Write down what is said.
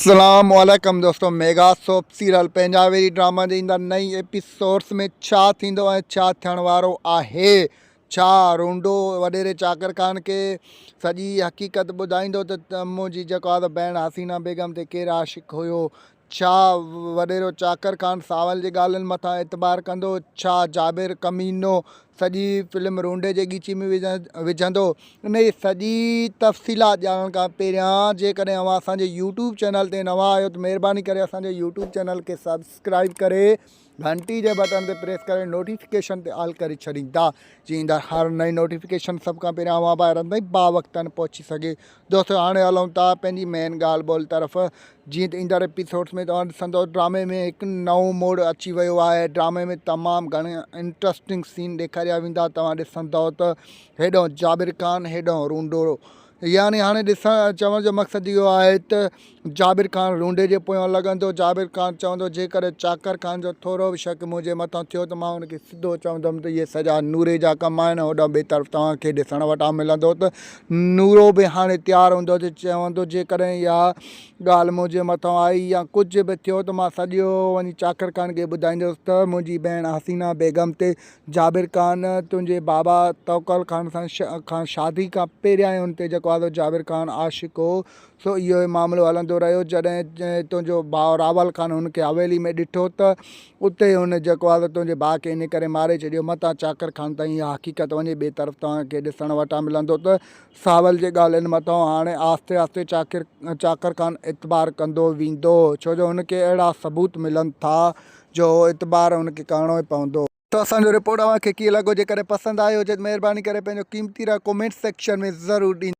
اسلام عليڪم دوستو ميگا سوپ سيريل پينجاويري ڊراما جي ايندا نئين ايپيسوڊس ۾ ڇا ٿيندو ۽ ڇا ٿيڻ وارو آهي ڇا رونڊو وڏيري چاڪر خان کي سڄي حقيقت ٻڌائيندو ته منهنجي جيڪو آهي بهن حسينه بيگم تي ڪير عاشق هيو ڇا وڏيرو چاڪر خان ساول جي ڳالهين مٿان اعتبار ڪندو ڇا جابر ڪمينو سڄي فلم رونڊي جي ڳچي ۾ وجهندو. انهي جي سڄي تفصيلات ڄاڻڻ کان پهريان جيڪڏهن اوهان اسان جي يوٽيوب چينل تي نوان آهيو ته مهرباني ڪري اسان جي يوٽيوب چينل کي سبسڪرائيب ڪري گهنٽي جي بٽڻ تي پريس ڪري نوٽيفڪيشن تي آل ڪري ڇڏيندا جيئن ايندڙ هر نئين نوٽيفڪيشن سڀ کان پهريان اوهان ڀائرن تائين باوقتن پهچي سگهي دوستو هاڻي هلون ٿا پنهنجي مين ڳالهه ٻولهه طرف جيئن ته ايندڙ ايپيسوڊس ۾ توهان ڏسندو ڊرامي ۾ هڪ نئون موڙ اچي ويو آهي ڊرامي ۾ تمام گهڻا انٽرسٽنگ سين ڏيکاريا ويندا توهان ڏسندو ته هيڏهن جابر خان هيڏهن رونڊو يعني هاڻي ڏسڻ چوڻ جو مقصد اهو آهي ته جابر خان لونڊي جي پويان لڳندو. جابر خان چوندو، جيڪڏهن چاڪر خان جو ٿورو به شڪ منهنجي مٿان ٿيو ته مان هن کي سڌو چوندم ته اهي سڄا نوري جا ڪم آهن ۽ هوڏانهن ٻئي طرف توهان کي ڏسڻ وٽان ملندو ته نورو به هاڻي تيار هوندو ته چوندو جيڪڏهن اها ڳالهه منهنجي مٿان آئي يا ڪجهه به ٿيو ته مان سڄو وڃي چاڪر خان کي ٻڌائيندس ته منهنجي ڀيڻ حسينه بيگم تي جابر خان تنهنجي بابا توڪل خان سان کان شادي کان پهريان ئي هن تي جڪو آزو جابر خان عاشق هو سو اهو ئي معاملو هلندو رهيو. جڏهن تنهنجو ڀاء راول خان هن کي حويلي ۾ ڏٺو ته اتي هن جيڪو آهي ته تنهنجي ڀاء کي ان ڪري ماري ڇڏيو. متان چاڪر خان تائين اها حقيقت وڃي ٻئي طرف توهان کي ڏسڻ وٽان ملندو ته ساول جي ڳالهين مٿان هاڻي آهستي آهستي چاڪر چاڪر خان اعتبار ڪندو ويندو. ڇو جو هن کي اهڙا ثبوت ملن ٿا جو اهو اعتبار هن کي ڪرڻو ئي پوندو. سو اسان جو رپورٽ اوهان کي ڪيئن لڳو جيڪڏهن پسند آيو هجي ته مهرباني ڪري پنهنجو قيمتي راء ڪمينٽ سيڪشن ۾ ضرور ڏيندا.